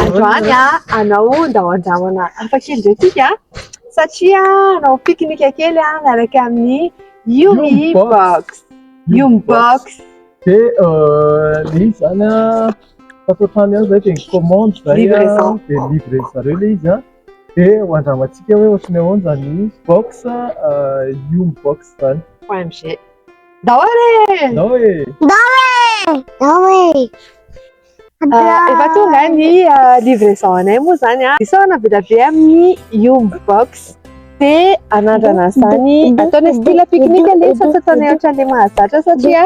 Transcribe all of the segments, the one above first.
Androany ah, anao ndao andramana hafa kely ndray tsika satria anao pique-nique kely ah, miaraka amin'ny Yumi Box. Yumi Box. Dia ilay izy izany an, tato an-trano ihany izay dia ny commande izay an, dia livrer-ndry zareo ilay izy an. Dia ho andramantsika hoe ohatran'ny ahoana izany box Yum box izany. OMG. Ndao re! Ndao e! Ndao e! Ndao e! Efa tonga ny livraison anay moa izany. Isaorana be dia be amin'ny Yum box. Te hanandrana an'izany ataonay style pique-nique anie fa tsy ataonay ohatran'ilay mahazatra satria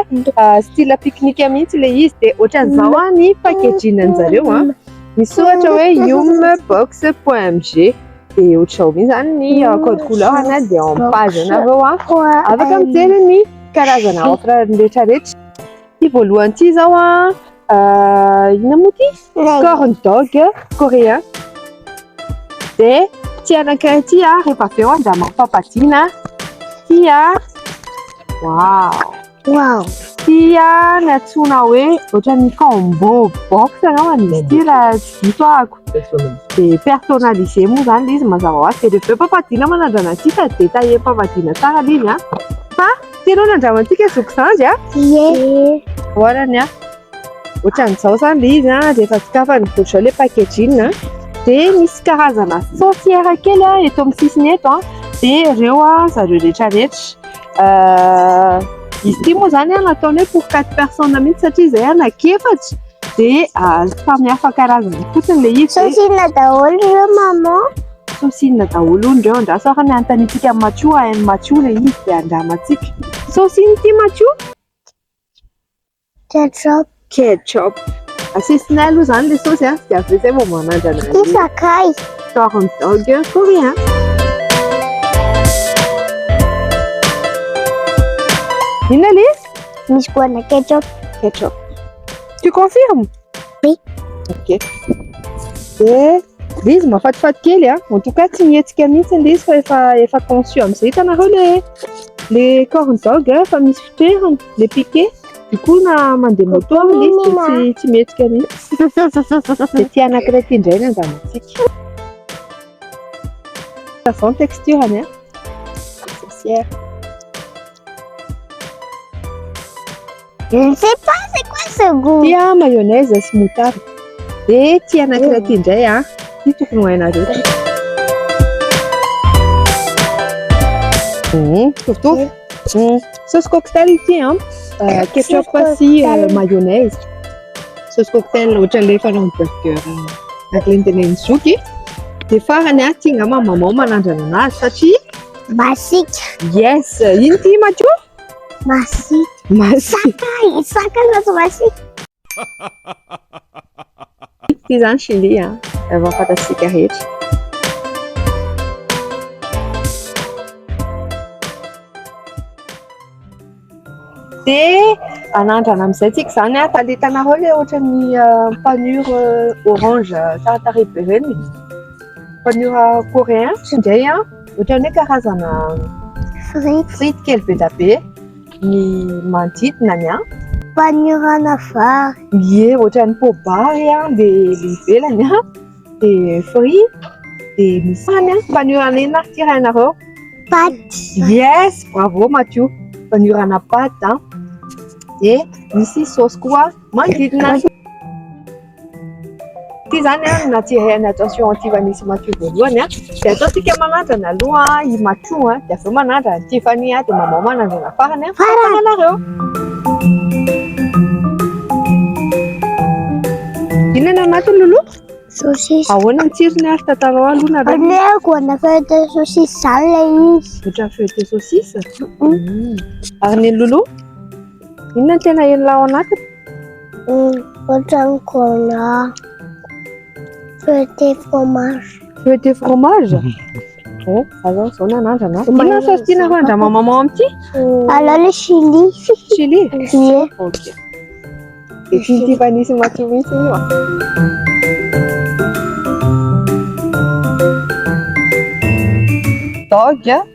style pique-nique mihitsy ilay izy dia ohatran'izao ny packaging an-jareo an, misy ohatra hoe yum box point mg dia ohatr'izao mi zany ny code couleur na dia ao amin'ny page anareo an, afaka mijery ny karazana offre rehetra rehetra, ity voalohany ity izao an. Euh, inona moa ty? Corn dog coréen. Dia tia anankiray ity a, rehefa avy eo anjaha mampampadiana. Tia. Wow. Wow. Tia ny antsoina hoe ohatran'ny combo box angambany izy ity raha tsy diso ahako. Dia personnalisé moa izany ilay izy mazava ho azy. Dia rehefa eo pampadiana manandrana antsika dia taillé-pampadiana tsara ilay izy a. Fa Tsy ianao nandrama antsika zoky izany a? Ie. Voarany a. Ohatran'izao izany ilay izy a, rehefa sokafana dia izao ilay packaging a. Dia misy karazana sorcière kely a eto amin'ny sisiny eto a. Dia ireo a zareo rehetra rehetra. Izy ity moa izany a nataony hoe pour quatre personnes mihitsy satria izay a naka efatra dia samy hafa karazana fotsiny ilay izy. Sosina daholo ireo maman. Saosy inona daholo hono ireo? Andraso ary ny hanontaniantsika an'i Matio, hain'i Matio ilay izy dia handramantsika. Saosy inona ity Matio? Ketchup. Ketchup. Asisinay aloha izany ilay saosy an, dia avy eo izay vao manandrana an'io. Ity sakay. Corn dog coréen. Inona ilay izy? Misy goana ketchup. Ketchup. Tu confirmes? Okay. Dia dia izy mafatifaty kely a. En tout cas tsy mihetsika mihitsy ilay izy fa efa efa conçu amin'izay. Hitanareo le le corn dog fa misy fitoerany, le piqué. Du coup na mandeha moto ilay izy dia tsy tsy mihetsika mihitsy. Dia tia anankiray ity indray ny andamantsika. Savant texture-ny a. Sorcière. Je ne sais pas c'est quoi ce goût. Tia mayonnaise sy moutarde. Dia ity anankiray ity indray ah. Ity tokony ho hainareo. Mhm, Mitovitovy. Mhm. Sauce cocktail ity ah. Euh, Ketchup Sauce sy euh, cocktail. mayonnaise. Sauce cocktail ohatran'ilay fanao ny burger euh, ak lentenen'ny zoky. Dia farany ah, tia ngamba maman manandrana anazy satria Masika. Yes, ino ty Mathieu? Masika. Masika. Masaka zaza masika. Ity izany Chili a, raha vao fantatsika rehetra. Dia anandrana amin'izay tsika izany a, taletanareo ilay ohatran'ny panure orange tsara tarehy be ireny, panure coréen, tsindray a. Ohatran'ny hoe karazana frity, frity kely be dia be ny manodidina ny an. Faniorana vary. Ie, ohatran'ny pobary an, dia ny ivelany an, dia frit, dia misy hany an. Faniorana inona ary ity rainareo? Paty. Yes, bravo Matio. Faniorana paty an. Dia misy saosy koa manodidina. Ity izany an, na tsy hain'ny attention antivany sy Matio voalohany an, dia ataontsika manandrana aloha i Matio an, dia avy eo manandrana an'i Tiffany an, dia Maman manandrana farany an, farany ianareo. Inona no anatiny Loulou? Saucisse. Ahoana ny tsirony ary tantarao aloha nareo. Aleoko ana feuille de saucisse zany le izy. Ohatran'ny feuille de saucisse? Ary ny an'i Loulou? Inona no tena henonao ao anatiny? Ohatran'ny gona. Feuille de fromage. Feuille de fromage? Oh, alao izao na nandrana. Inona saosy tianareo handramamamao amin'ity? Alao le chili. Chili? Ie. Ok. Dia tian'ity vanisy matsiro mihitsy io ah. Dog.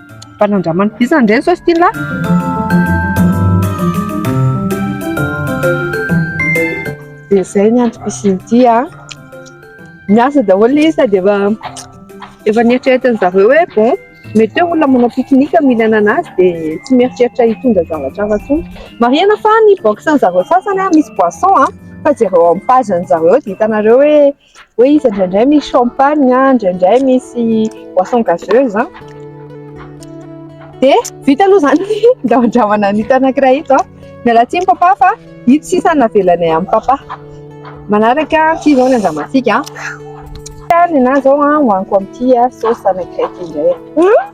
Mba nandramany bizana indray ny saosy ity ny lahy. Dia izay ny antom-pisiany ity an. Miasa daholo ilay izy sady efa efa nieritreretiny zareo hoe bon mety hoe olona manao pique-nique no hihinana an'azy dia tsy mieritreritra hitondra zavatra hafa intsony. Marihina fa ny box-ny zareo sasany an misy boisson an fa jereo amin'ny page-ny zareo dia hitanareo hoe. hoe izy indraindray misy champagne a, indraindray misy boisson gazeuse a. Dia vita aloha izany ny ndramandramana an'ito anankiray ito. Miala tsiny papa fa ito sisa no navelanay an'i papa. Manaraka ity izao ny andramantsika. Ny ahy izao hohaniko amin'ity saosy anankiray ity indray.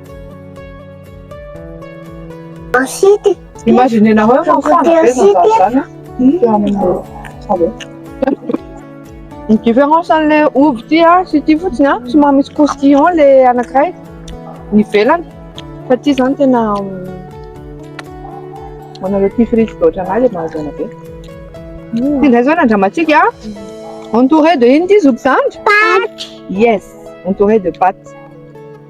Ensuite, Imaginez nareo fa Côté mifandray be aussi, zazà zany dia amin'ny salon. Ny différence an'le ovy ity a sy ity fotsiny a somary misy croustillant le anankiray ny ivelany fa ity zany tena ho anareo tia frity be ohatranay le mahazo aina be. Ty ndray zao ny andramantsika a entouré de ino ity zokizandry? Yes, entouré de pâtes.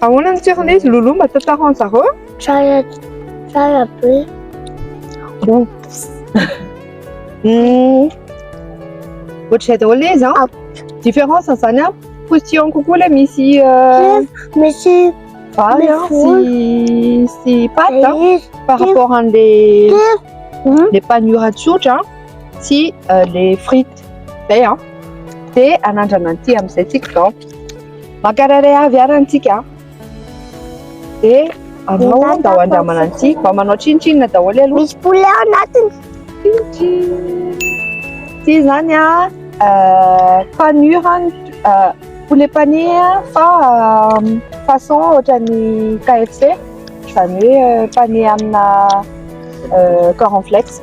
Ahoana ny toerana izy Loulou mba tantaro an zareo? Tsara tsara be. Oops. Hmm. Ohatr'izay daholo le izy an. Ah. Différence zany an. Position kokoa le misy euh, misy vary an sy sy pâte an par rapport an'le le hmm? panura tsotra sy euh, le frites. Zay an. Dia anandrana an'ity amin'izay tsika izao. Mankarary avy arany tsika. Dia anao andao andramana an'ity. Mba manao tsinotsinona daholo aloha. Misy poulet ao anatiny. Ity izany an, panure an, poulet pané fa façon ohatran'ny KFC, izany hoe pané amina cornflakes.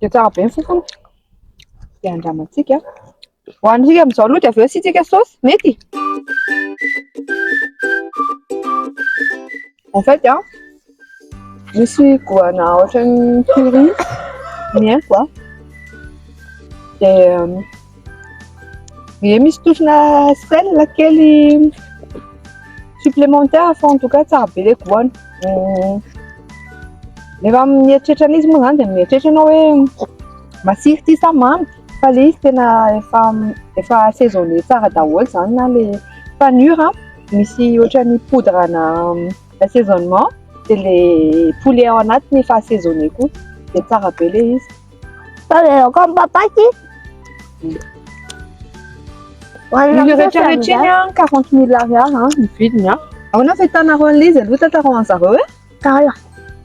Dia tsara be ny fofony. Dia andramantsika. Hohanintsika amin'izao aloha dia avy eo asiantsika saosy. Mety? En fait, hein, misy goana ohatran'ny curry ny haiko. Dia Ie misy tohina sel kely supplémentaire fa en tout cas tsara be le goût-ny. Rehefa mieritreritra an'izy moa zany dia mieritreritra ianao hoe masira ity sa mamy fa le izy tena efa efa assaisonner tsara daholo zany na le panure an, misy ohatran'ny poudre-na assaisonnement dia le poulet ao anatiny efa assaisonner koa dia tsara be le izy. Taderaoko amin'ny papaky. Ny rehetra rehetra iny an, 40 mille ariary an, ny vidiny an. Ahoana ny fahitanareo an'ilay izy aloha tantaraho an'i zareo e? Tara.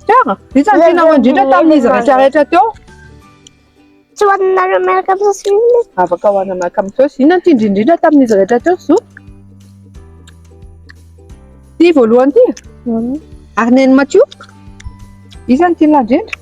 Tara? Vitsy ny tianareo indrindra tamin'izy rehetra rehetra teo. Tsy ho anareo miaraka amin'ny saosy inona? Afaka ho anareo miaraka amin'ny saosy. Inona no tiany indrindra tamin'izy rehetra teo zo? Ty voalohany ty? Ary neny matio? Iza no tianao indrindra?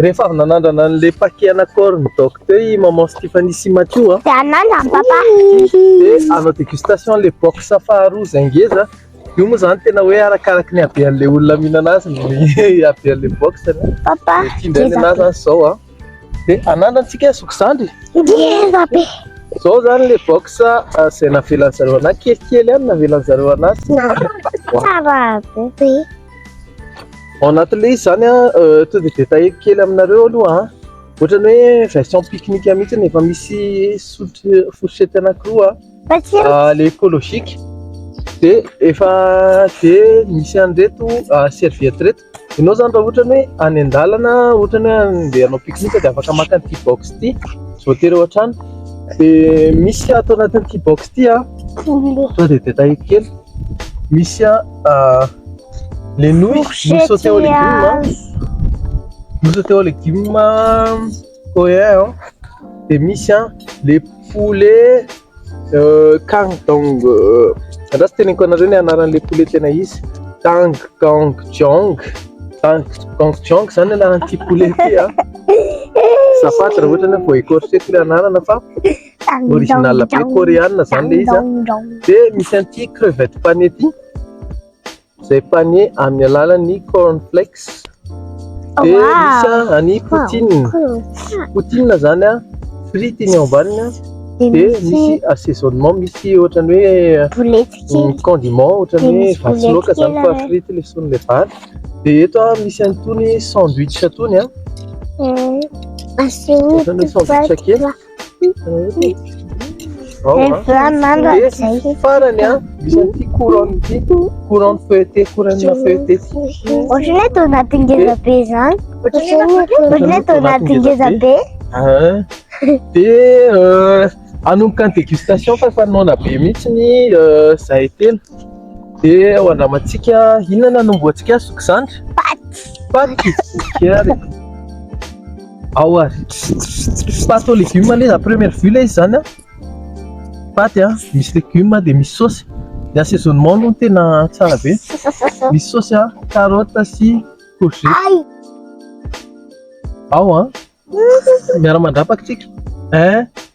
Rehefa avy nanandrana an'le paquet ana corps ny doc teo i maman Stephanie sy Mathieu a. Dia anandrana an'i papa. Dia hanao dégustation an'le box faharoa izay ngeza. Io moa izany tena hoe arakaraky ny habean'le olona mihinana azy ny habean'le box anie. Papa Dia ity indray ny ngeza anah be. izany izao a. Dia anandrana tsika zoky zandry. Ngeza be. Izao izany le box izay navelan'zareo anah kelikely ihany navelan'zareo anah sy. Tsara be. Ao anatin'ilay izy izany an, euh, to the détail kely aminareo aloha an, ohatran'ny hoe version pique-nique mihitsy efa misy sotry fourchette anankiroa an, ah, le écologique de efa de misy an'ireto ah, serviette reto. Ianao izany raha ohatra hoe any an-dalana, ohatra hoe andeha hanao pique-nique dia afaka maka an'ity box ity, tsy voatery ao an-trano. De misy ato anatin'ity box ity an, to the détail kely, misy an. Ah, les nouilles, nous Fourchette sauter aux et légumes. hein. azy. Nous sauter aux légumes. hein. Oh yeah, hein. Et misy hein, les poulets euh, kang dong. euh, Andraso teneniko anareo ny anaran'le poulet tena izy. Tang kang jong. Tang kang jong zany anaran'ity poulet ity hein. Safady raha ohatra na vao écorché le anarana fa Original be coréenne zany le izy de misy an'ity crevette pané ity izay pané amin'ny alalan'ny corn flakes de misy any poutine poutine zany a frity ny ao ambaniny de misy assaisonnement misy ohatran'ny hoe condiment ohatran'ny hoe vatsy loaka zany fa frity le son'le vary de eto a misy an'itony sandwich itony a ohatran'ny hoe sandwich kely farany an misy an'ity couronne ity couronne feuilletée couronne feuilletée ity ohatrany hoe donaty ngeza be zany ohatrany hoe donaty ngeza be de anomboka ny dégustation fa efa noana be mihitsy ny zahay telo de ho andramantsika inona no anombohantsika zoky zandry paty paty ary Ao ary. Pâte aux légumes anie à première vue ilay izy izany a. Pâte a, misy légumes dia misy saosy. Ny assaisonnement aloha no tena tsara be. Misy saosy a, carotte sy courgette. Ao a. Miara-mandrapaka tsika. Hein?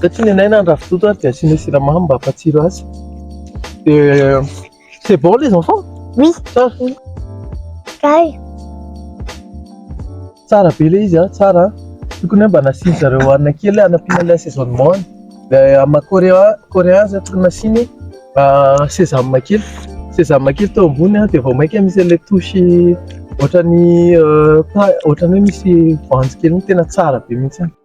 Satria nenaina ny ravitoto ary dia asiana siramamy mba hampatsiro azy. Dia c'est bon les enfants? Oui. Tsara. Kay. Tsara be ilay izy, tsara. Tokony mba nasiany zareo hanina kely hanampiana ilay assaisonnement. Ilay amin'ny coréen, coréen zay tokony nasiany sesame kely. Sesame kely teo ambony dia vao mainka misy ilay touche ohatran'ny ohatran'ny hoe misy voanjo kely tena tsara be mihitsy.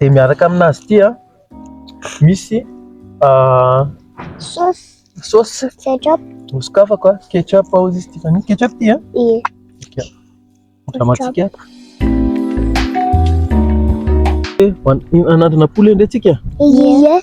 dia miaraka aminazy ity a misy sauce sauce ketchup nosokafako a ketchup hozy izy ity fani ketchup ity a ie andramantsika anatin'ampoule ndray tsika ie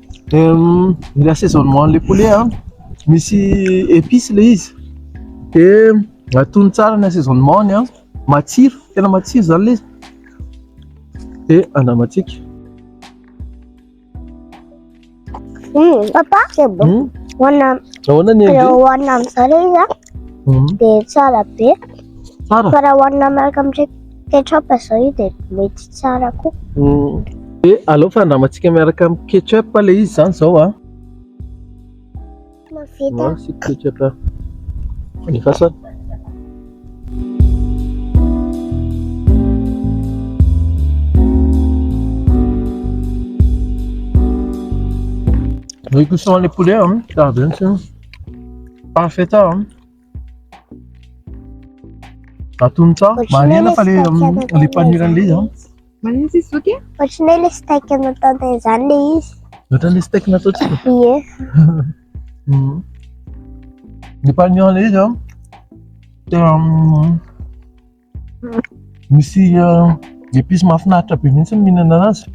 Ny assaisonnement an'ilay poulet an, misy épices ilay izy, dia atono tsara ny assaisonnement-ny an, matsiro, tena matsiro izany ilay izy, dia andramantsika. Papa, c'est bon. Ahoana ny ange? Hohanina amin'izao ilay izy an. Mhm. dia tsara be. Tsara. Fa raha hohanina miaraka amin'ny ketchup izao io dia mety tsara koa. Mm. Dia aleo fandramantsika miaraka amin'ny ketchup ilay izy izany izao a. Mahavita. Maro sy ketchup. Ny fasana. Ny cuisson les poulets, hein, ça va bien sûr. Parfait tao an. Atony tao. Manena fa le le panira le an. Manena si soke? Ohatran'ny le steak natao tao izany le izy. Ohatran'ny steak natao tsy? Ie. Mhm. Ny panira le izy an. Tena Misy épices euh, mahafinaritra be mihitsy ny mihinana azy.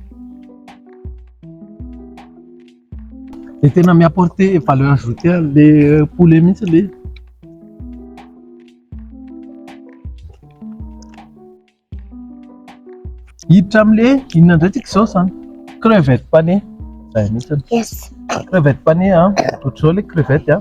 Dia tena mi-apporter valeur ajoutée le euh, poulet mihitsy le. Hiditra amin'le inona indray tsika izao izany? Crevette pané. Zay mihitsy. Yes. Crevette pané, hein. Ohatr'izao le crevette, hein.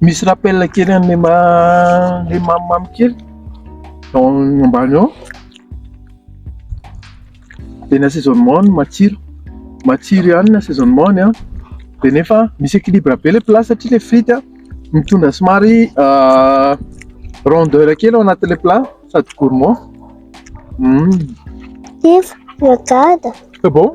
Misy rappel kely an'ilay ma- ilay mamimamy kely ao ambany ao. Dia ny assaisonnement no matsiro. Matsiro ihany ny assaisonnement-ny an. Dia nefa misy équilibre be ilay plat satria ilay frity an mitondra somary rondeur kely ao anatin'ilay plat sady gourmand. Hum. Iva, miodada. C'est bon?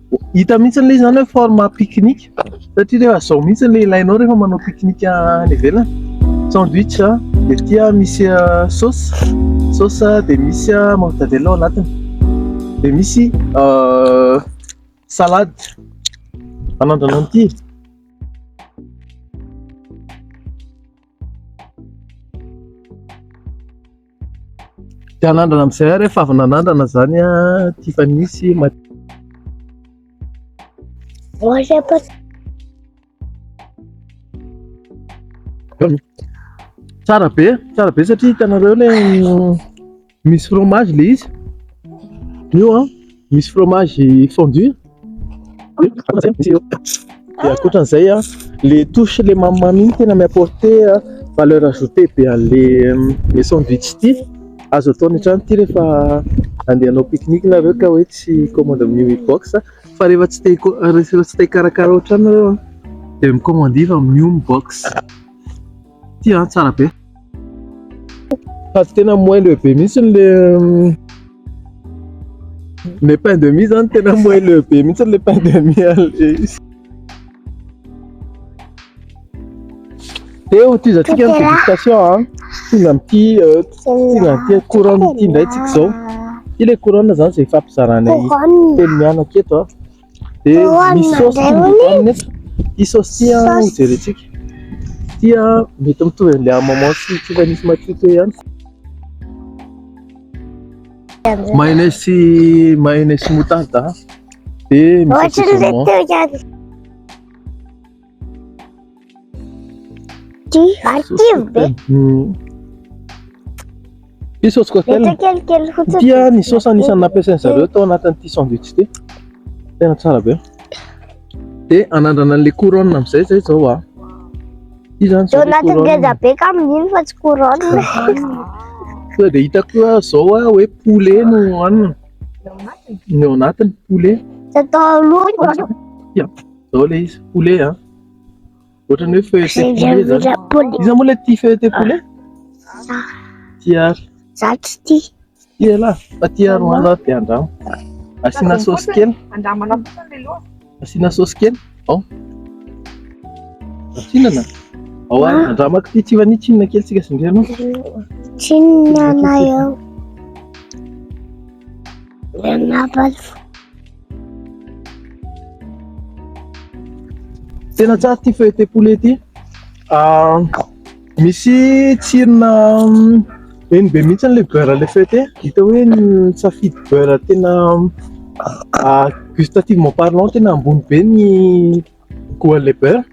Hita mihitsy ilay izany hoe forme pique-nique satria rehefa izao mihitsy ilay ilainao rehefa manao pique-nique any ivelany. Sandwich, dia ity misy euh, sauce, sauce dia misy euh, mortadelle ao anatiny. Dia misy euh, salade. Anandrana an'ity. Dia hanandrana amin'izay ary efa avy nanandrana izany Tiffany sy Mathieu. Oaza pa. Tsara be, tsara be satria hitanareo ilay misy fromage ilay izy. Io an. Misy fromage fondu. Dia ankoatran'izay a, le touche le mamimamy iny tena mi-apporter valeur ajoutée be an'le le sandwich ity. Azo atao any an-trano ity rehefa andeha hanao pique-nique nareo ka hoe tsy hi-commande amin'ny Umi Box fa rehefa tsy te hiko- rehefa tsy te hikarakara ao an-trano nareo a dia mi-commander fa amin'ny Umi Box. Ty ah, tsara be. Fa tsy tena moelle le be mihitsy le le pain de mie zany tena moelle le be mihitsy le pain de mie izy. Teo ty za tsika ny dégustation ah. Tonga amin'ity euh, tonga amin'ity couronne ity ndray tsika zao. Ty le couronne zany zay fampizarana telo mianaka eto ah. Dia misy saosy ity mety aminy eto. Ity saosy ity an, ho jerentsika. Ity an, mety mitovy amin'ilay an'i maman sy tsika nisy madio teo ihany. Mayonnaise sy mayonnaise sy moutarde an. Dia misy saosy saumon. Ty, ary ty be. Ty saosy cocktail. Mety kelikely fotsiny. Ty ny saosy anisan'ny nampiasain'ny zareo tao anatin'ity sandwich ity. Tena tsara be. Dia anandrana an'ilay couronne amin'izay izay izao ah. Ty zany zao. Tao anatin'ny ngeza be ka amin'iny fa tsy couronne. Sao dia hita koa zao ah hoe poulet no hanina. Ny ao anatiny poulet. Tsy atao aloha. Zao le izy, poulet a. Ohatry ny hoe feuilleté poulet zany. Iza moa le tia feuilleté poulet? Za. Tia ary. Za tsy tia. Tia lah, fa tia ary hoano ary dia andramo. Asiana saosy kely. Andramana fotsiny le loha. Asiana saosy kely. Ao. Atsinana. Ao ary andramako ity tsy vania tsinona kely tsika sindriana. Tsinona na eo. Nanabaly fo. Tena tsara ity feuille poulet ity. Ah, misy tsirona eny be mihitsy ilay beurre ilay feuille ity. Hita hoe ny safidy beurre tena ah, gustativement parlant tena ambony be ny Goal le beurre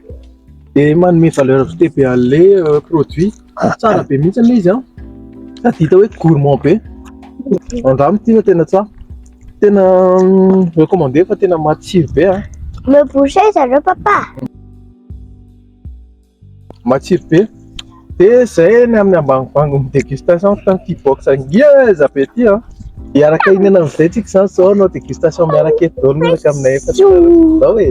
dia manome valeur ajoutée be an'le euh, produit. Tsara be mihitsy aloha izy an. Sady hita hoe gourmand be. Andramo ity no tena tsara. Tena mm, recommandé fa tena matsiro be an. Me boucher zareo papa. Matsiro be. Dia izay ny amin'ny ambanimbani'ny dégustation tamin'ity box ngeza be ity an! Dia araka iniana amin'izay tsika izany izao hanao dégustation miaraka eto daholo miaraka aminay efatra izao e!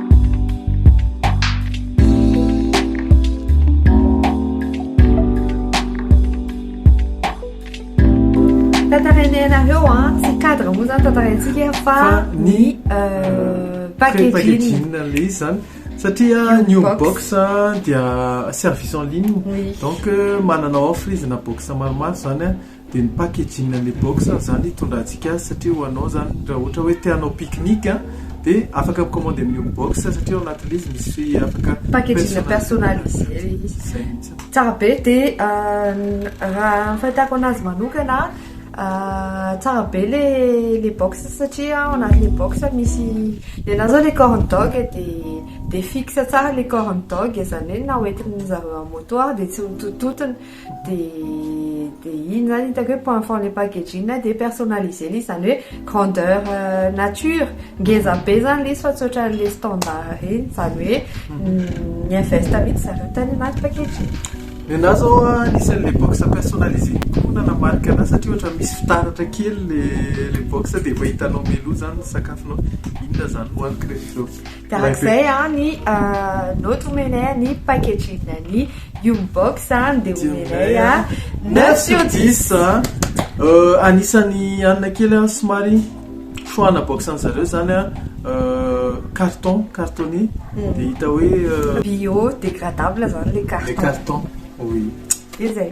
Tantarainay anareo a, ah, tsy cadre moa zany tantaraintsika fa ny euh, packaging. le zany satria new box dia service en ligne donc euh, manana offre izy na box maromaro zany a. Dia ny packaging an'ilay box izany hitondrantsika azy satria ho anao izany raha ohatra hoe te hanao pique-nique dia afaka mi-commander amin'io box satria ao anatin'ilay izy misy afaka Packaging personnalisé ilay izy. Izay mihitsy. Tsara be dia raha ny fahitako anazy manokana tsara be ilay box satria ao anatin'ilay box misy ny anà izao ilay corn dog dia dia fixe tsara ilay corn dog izany hoe na hoentin'izareo amin'ny moto ary dia tsy ho tontontona. Dia dia iny izany hitako hoe point fort ilay packaging dia personnalisé ilay izy izany hoe grandeur nature. Ngeza be izany ilay izy fa tsy ohatran'ilay standard ireny. Izany hoe mi-invest mihitsy zareo tany anaty packaging. Ny anà izao an, anisan'ilay box personnalisé kokoa na na marika anà satria ohatra misy fitaratra kely ilay box dia efa hitanao mialoha izany ny sakafonao. Inona izany no hohaniko rehefa avy eo. Darak'izay ny note omenay ny packaging ny Young Box dia omenay 9 sur 10. Anisan'ny hanina kely somary choix ana box an'i zareo izany carton, cartonné, dia hita hoe. Bio dégradable izany ilay carton. Ilay carton, oui. Dia izay.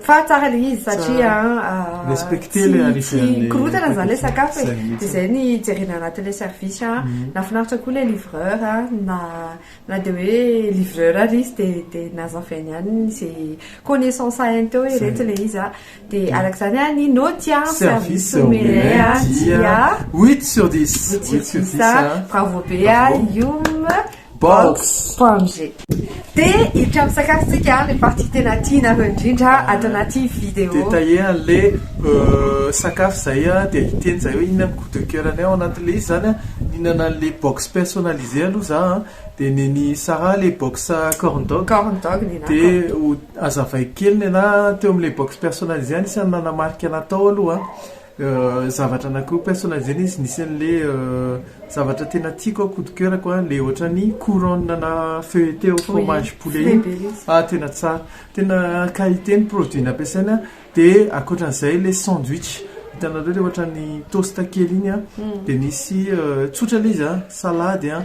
Fa tsara le izy satria tsy mikorontana zany le sakafo e, de zay ny hijerena anatin'le service a, nahafinaritra koa le livreur a, na na de hoe livreur ary izy de de nazavainy ihany ze connaissance hainy teo hoe reto le izy a, de araka zany a ny naoty a, service omelay a, dia huit sur dix, huit sur dix a, bravo be a, humm. Box Pamje. Dia i trano sakafo tsika le partie tena tianareo indrindra ato anaty video. Dia taia anle sakafo zay dia hiteny zay hoe inona ny coup de coeur anay ao anatinle izy zany a, nihinana anle box personnalisé aloha za a, dia nen'i Sarah le box corn dog, Corn dog nenako. dia ho azavaiko kely nenah teo amle box personnalisé any isan'ny nanamarika anah tao aloha a. zavatra anakiroa personnel zay le izy nisy anle zavatra tena tiako an coup de coeur ko an le ohatrany couronne ana feuilletee au fromage poulet iny ah tena tsara tena qualité ny produit nampiasaina de akoatran'izay le sandwich hitanareo le ohatrany toast kely iny an de misy tsotra le izy an salady an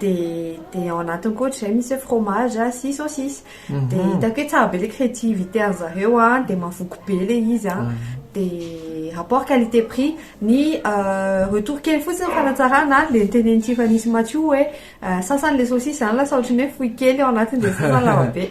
dia dia ao anatiny koa ohatr'izay misy hoe fromage a sy saucisse dia hitako hoe tsara be ilay créativité an'ny zareo a dia mahavoky be ilay izy a dia rapport qualité prix ny retour kely fotsiny fanatsarana dia ny tenenin'i tiffany sy mathiou hoe sasany ilay saucisse izany lasa ohatran'ny hoe fohy kely ao anatiny dia sasany lava be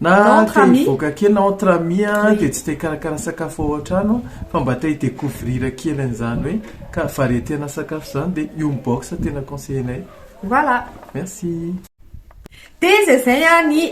Na te hivoaka kely na entre amis a, dia tsy te hikarakara sakafo ao an-trano fa mba te hi-decouvrir kely an'izany hoe ka variété ana sakafo izany dia io mi-box tena conseiller-nay. Voilà. Merci. Dia izay izay ny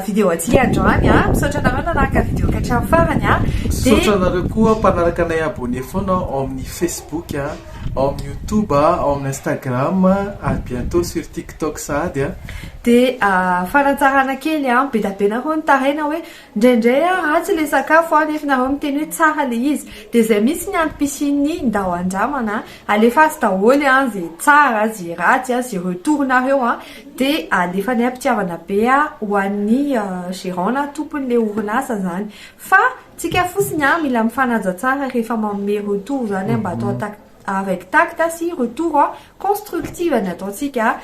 video antsika androany a. Misaotra anareo nanaraka video ka hatramin'ny farany a. Misaotra anareo koa mpanaraka anay abonné foana ao amin'ny Facebook, ao amin'ny YouTube, ao amin'ny Instagram ary bientôt sur Tik. Toaka sahady a! Dia fanatsarana kely an! Be da be nareo nitaraina hoe indraindray an ratsy ilay sakafo an, nefa nareo miteny hoe tsara ilay izy. Dia izay mihitsy ny antom-pisian'ny ndao andramana an! Alefaso daholo an izay tsara, izay ratsy an, izay retour-nareo an! Dia alefanay am-pitiavana be ho an'ny gérant na tompon'ilay orinasa izany. Fa tsika fotsiny an mila mifanaja tsara rehefa manome retour izany an, mba atao an-takady. avec tact a sy retour a constructive ny ataontsika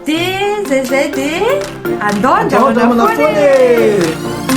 de zay zay de andao andramana foana e